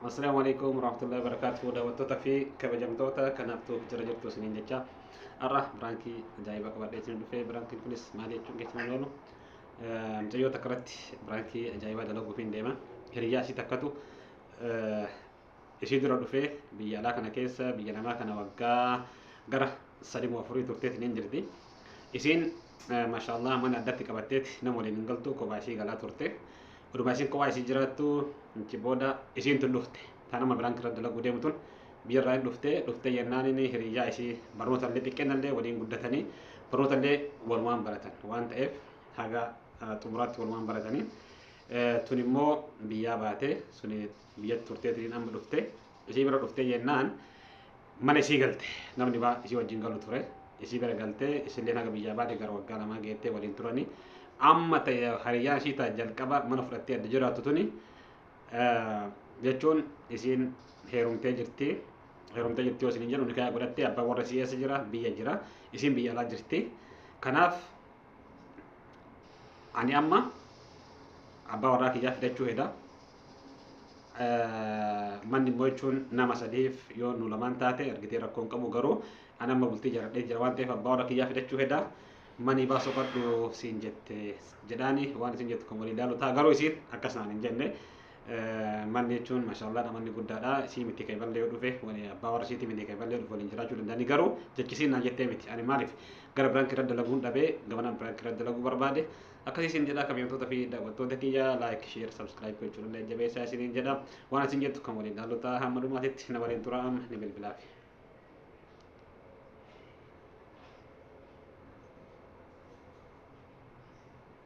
Assalaamu alaikum warahmatullahi wabarakatuh daawwattoota fi kabajamtoota kanaaf tuuf jira jirtu isiniin jecha har'a biraankii ajaa'iba qabadhee isin dhufee biraankiin kunis maal jechuun keessan hin oolu mucayyoo takka irratti biraankii ajaa'ibaa dalaguuf hin deema hiriyyaa isii takkatu ishii dura dhufee biyya alaa kana keessa biyya namaa kana waggaa gara sadii moo afurii turtee isiniin jirti isiin maashaallah mana addatti qabatteeti nama waliin hin galtu kophaa ishii galaa turte Oduma isin kophaa isii jiraattu achi booda isiin tun dhufte. Ta nama biraan irra dalaguu deemu tun biyya irraa hin dhufte. Dhufte jennaan inni hiriyyaa isii barnoota illee xiqqeenna illee waliin guddatanii barnoota illee walumaan baratan waan ta'eef haga xumuraatti walumaan baratanii tun immoo biyyaa baate suni biyyatti turteetiin amma dhufte isii bira dhufte jennaan Mana isii galte. Namni baa isii wajjin galu ture. Isii bira galte. Isilleen haga biyyaa baate gara waggaa lamaa geettee waliin turani. Amma ta'e hariyyaan isii ta'a jalqaba mana fudhattee adda jiraattu tuni jechuun isiin heerumtee jirti. Heerumtee jirti yoo isiniin jedhu nikaya godhattee abbaan warra isii eessa jira? Biyya jira. Isiin biyya alaa jirti. Kanaaf ani amma abbaa warraa kiyyaa fidachuu heda manni immoo jechuun nama sadiif yoo nu lamaan taate argitee rakkoo hin qabu garuu ani amma bultii jaradhee jira waan ta'eef abbaa warra kiyyaa fidachuu heda manii baasoo qadhu siin jette jedhaani waan isin jettu kan walii ilaalu ta'a garuu isiin akkas naan hin jenne Manni jechuun mashallah namanni guddaadha isii miti kan iballee yoo dhufe wani abbaa warra isiiti miti kan iballee dhufe waliin jiraachuu danda'ani garuu jechisiin naa jettee miti ani maaliif gara biraanki irra dalaguun dhabee gamanaan biraanki irra dalaguu barbaade akkasii isin jedha kabiyamtoota fi daawwattoota kiyya laayik sheer sabskiraayib gochuun illee jabeessaa isiniin jedha waan isin jettu kan waliin dhaallotaa hamma dhumaatitti na waliin tura amma ni bilbilaafi.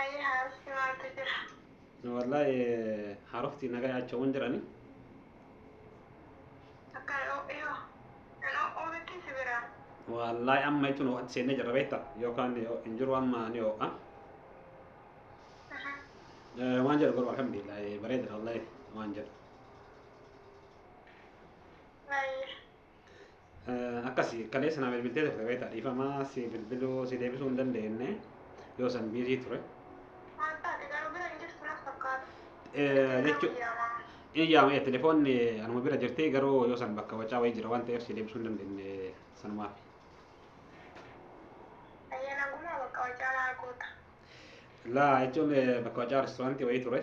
Ayii haarofti maaltu jira? Wallahi haarofti nagaa yaachaawwan jirani. Akkan oo'e hoo? Hin oo'uu mitii si biraa? Wallahi amma jechuun oo'atti seennee jirra beekta yookaan hin jiru amma ni oo'a. Waan jedhu garuu alhamdulillah bareedadha wallahi waan jedhu. Baay'ee. Akkasi kaleessa naa bilbiltee turte beektaa dhiifamaa si bilbiluu si deebisuu hin dandeenye yoo san biizii ture. Maal taate garuu bira hin jirtu naf fakkaata. Jechuu in yaama telefoonni anuma bira jirti garuu yoo san bakka wacaa wayii jira waan ta'eef si deebisuu hin dandeenye sanumaaf. Ayya nagumaa bakka wacaa maal goota. Laa jechuun bakka wacaa restoraantii wayii ture.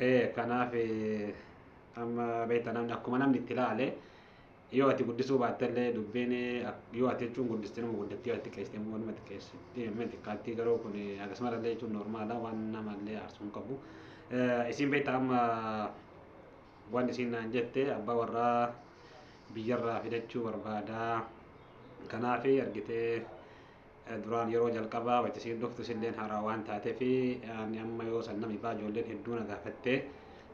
ee kanaaf amma beekta namni akkuma namni itti ilaale yoo ati guddisuu baatte illee dubbiin yoo ati jechuun guddiste nama guddatti yoo ati xiqqeessite immoo nama xiqqeessite nama xiqqaatti garuu kun akkasumara illee jechuun normaala waan nama illee aarsuu hin qabu isin beekta amma waan isin naan jette abbaa warraa biyyarraa fidachuu barbaadaa kanaaf argitee Duraan yeroo jalqabaa wayita isiin dhuftu isilleen haaraa waan taatefi ani amma yoo san nama ibaa ijoolleen hedduu na gaafatte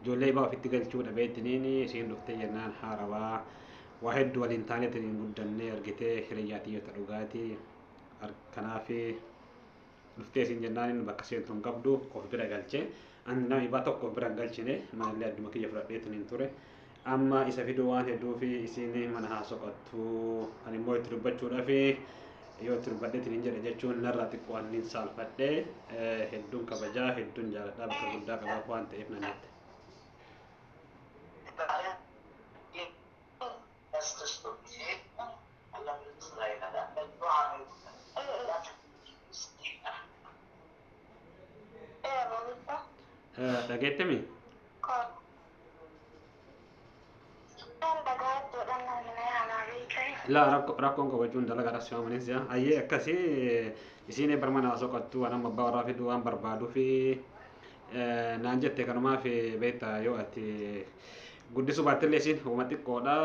ijoollee ibaa ofitti galchuu dhabee ittiniin isiin dhuftee jennaan haarawaa waa hedduu waliin taanee ittiniin guddannee argitee hiriyyaa tiyyota dhugaati kanaaf dhuftee isiin jennaan inni bakka seentu hin qabdu of bira galche ani nama ibaa tokko of bira hin galchine manallee adduma kiyya fudhadhee ittiniin ture Amma isa fiduu waan hedduufi isiin mana haa soqattu ani immoo itti dubbachuudhafi yoo itti dubbadheetiin hin jedhe jechuun narraa xiqqoo anniin saalfadhe hedduun kabajaa hedduun jaaladhaa bakka guddaa qabaaf waan ta'eef nan jette. Dhageettemi? Ittaan bagaan jedhan namni na yaamaa beekani. Laa rakko rakkoon kabajuun dalagaa dhabsi waan manis jaa. Ayyee akkasi isiin barma naa soqattu waan amma abbaa warraa fiduu waan barbaaduu fi naan jette kanumaa fi beekta yoo ati guddisuu baattillee isiin homa xiqqoodha.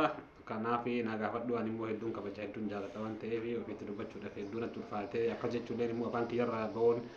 Kanaaf naa gaafadhu ani immoo hedduun kabaja hedduun jaalladha waan ta'eef ofiitti dubbachuudhaaf hedduun natti ulfaatee akka jechuulleen immoo afaan kiyyarraa ba'uun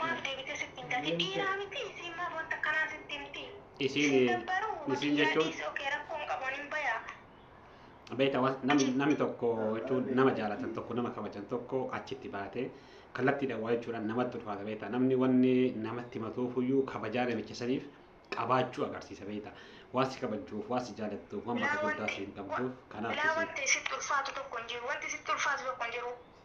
Maaf deebitee sitti hin gati dhiiraa miti isiin maaf wanta kanaa sitti himti Isiin, sin dabbaruu isiin waqiyyaa jechuun- dhiisi okee rakkoo hin qabu anin bayaa Beektaa waan namni, namni tokko jechuun nama jaalatan tokko nama kabajan tokko achitti baatee kallattiidhaan waa jechuudhaan namatti ulfaata beektaa namni wanni namatti himatuufuyyuu kabajaa namicha saniif qabaachuu agarsiisa beektaa waan si kabajuuf waan si jaalattuuf waan bakka guddaa si hin qabduuf kanaaf bilaa isin wanti sitti ulfaatu tokko hin jiru wanti sitti ulfaatu tokko hin jiru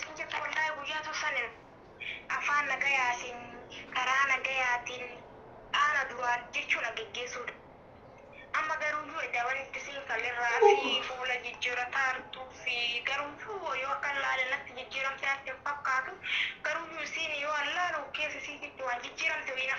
Siin jettu wallahi guyyaa tun sanin afaan nagayaatiin karaa nagayaatiin dhaana duraan jechuu na geggeessuudha amma garuuyyuu edda wan itti siin kamirraa fi fuula jijjirataa artuu fi garuuyyuu woo yoo akkan laale natti jijjiramtee natti hin fakkaatu garuuyyuu isiin yoo an laalu keessa isiitiitti waan jijjiramte wayii na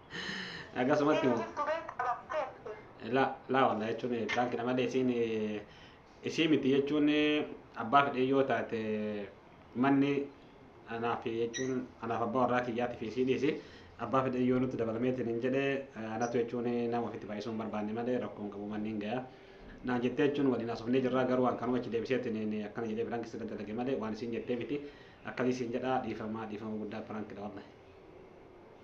Akkasumatti Inni jirtu bee qabatteetti. laa laa walaa jechuun piraanki nama malee isiin isii miti jechuun abbaa fedhee yoo taate manni anaaf jechuun anaaf abbaa warraa kiyyaati fi isii dhiisi abbaa fedhee yoo nutti dabalameetiin hin jedhe anatu jechuun nama ofitti baay'isuu hin barbaanne malee rakkoo hin qabu manni hin gaya. Naan jettee jechuun waliin haasofnee jirraa garuu waan kanuma achi deebiseetiin akkana jedhee piraanki sirra dalage malee waan isiin jettee miti akkasii siin jedhaa dhiifamaa dhiifama guddaa piraanki dha wallah.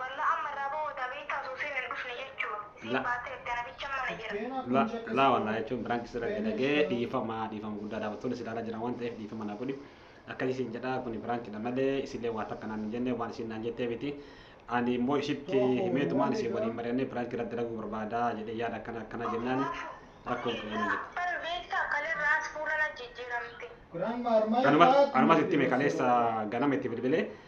Wallah amma irraa bahuu dha beektaa osoo isiin hin dhufne jechuun isiin La- baatee erga na bichan mana jira. La- laa wallaa jechuun biraanki sirra dalagee dhiifama dhiifama guddaadha battoon isin ilaalaa jiran waan ta'eef dhiifama naa godhi akkasii isin jedha kuni biraankiidha malee isillee waa takka naan hin jenne waan isin naan jettee miti ani immoo isitti himeetumaan isin waliin mari'annee biraanki irra dalaguu barbaada jedhee yaada akkana akkana jennaan rakkoo hin qabu jette. Abban beektaa kalerraas fuula na jijjiiramte. Kanuma- Kanumas itti hime kaleessa ganama itti bilbilee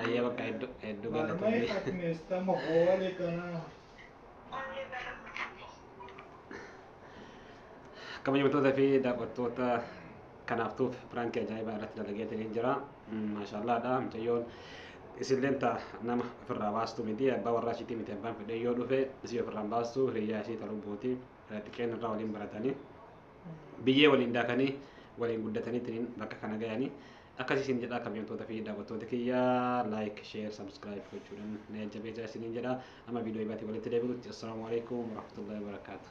Ayyee bakka hedduu hedduu Marmee galatoomii. akmeesta mahoole kanaa. kabajamtoota fi daawwattoota kanaaf tuuf piraankii ajaa'ibaa irratti dalageetiin jira maashaallaadha mucayyoon isilleen ta nama ofirraa baastu miti abbaa warraa ishiitii miti abbaan fedhee yoo dhufe isii ofirraan baastu hiriyyaa isii ta'uu buuti xiqqeen irraa waliin baratanii biyyee waliin daakanii waliin guddataniitiin bakka kana gayanii Akkasii isin jedhaa kabajamtoota fi daawwattoota kiyya like, share, subscribe gochuudhaan na jajjabeessaa isiniin jedha. Amma viidiyoo biraatti walitti deebinutti assalaamu alaikum warahmatullahi wabarakaatuh.